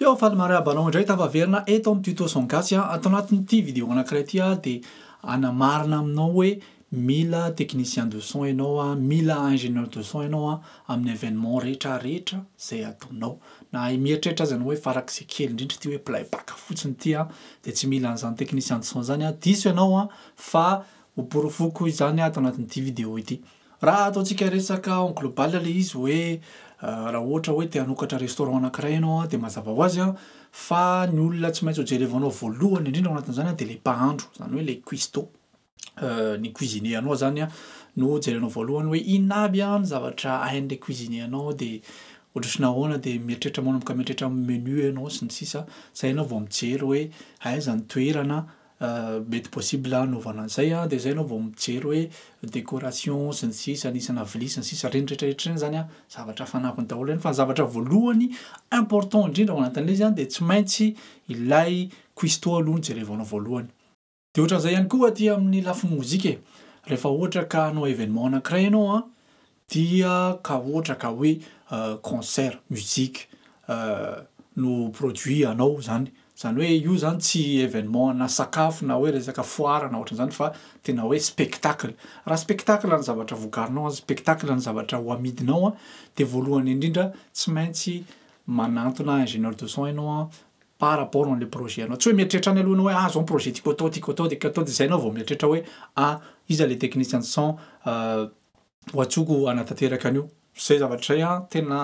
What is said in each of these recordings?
Yo, faly mariaba anao indray tafaverina eto amin'ny tuto son gasy a. Ato anatin'ity vidéo anankiray ity aho dia hanamarina aminao hoe mila technicien de son ianao a, mila ingénieur de son ianao a, amin'ny événement rehetra rehetra izay ataonao. Na mieritreritra aza ianao hoe farak'izay kely indrindra ity hoe play back fotsiny ity a, dia tsy mila an'izany technicien de son izany a, diso ianao a, fa ho porofoko izany ato anatin'ity vidéo ity. Raha ataontsika resaka en global ilay izy hoe raha ohatra hoe te hanokatra restaurant anankiray ianao an, dia mazava ho azy an, fa ny olona tsy maintsy ho jerevanao voalohany indrindra ao anatin'izany an dia ilay mpahandro, izany hoe ilay cuistot, ny cuisinier anao izany an, no jerenao voalohany hoe inona aby an ny zavatra hain'ilay cuisinier anao dia ohatr'ohatry ny ahoana dia mieritreritra manomboka mieritreritra amin'ny menu ianao sy ny sisa, izay ianao vao mijery hoe aiza ny toerana mety possible hanaovana an'izay an, dia zay enao vao mijery hoe décoration sy ny sisa ny isa na vilia sy ny sisa ireny rehetra rehetra ireny zany an zavatra fanafiny daholo ireny fa ny zavatra voalohany important indrindra ao anatin'ilay izy an dia tsy maintsy ilay cuistot aloha no jerevanao voalohany dia ohatran'izay ihany koa aty amin'ny lafiny mozika e rehefa ohatra ka hanao événement anankiray enao an Dia ka ohatra ka hoe concert, musique no produit anao zany, zany hoe io zany tsy événement na sakafo na hoe resaka foara na ohatran'izany fa tena hoe spectacle. Raha spectacle ny zavatra vokarinao, spectacle ny zavatra ho amidinao dia voalohany indrindra tsy maintsy manantona ingénieur de son ianao par rapport an'ilay projet anao, tsy hoe mieritreritra any aloha ianao hoe ah zao ny projet tiako atao, tiako atao, tiako atao dia zay ianao vao mieritreritra hoe ah iza ilay technicien de son ho antsoko hanatanteraka an'io. Izay zavatra izay an, tena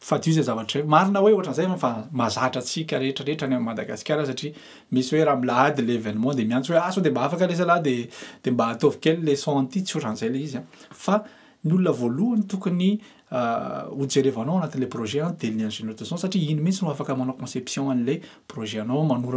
fadio izay zavatra izay. Marina hoe ohatran'izay an, fa mahazatra antsika rehetra rehetra any amin'i Madagasikara satria misy hoe raha milahady ilay événement dia miantso hoe ah sao dia mba afaka ilay zalahy dia dia mba ataovy kely ilay son an'ity, tsy ohatran'izay ilay izy an. Fa ny olona voalohany tokony hojerevanao anatin'ilay projet an dia ny ingénieur de son satria iny mihitsy no afaka manao conception an'ilay projet anao, manoro anao.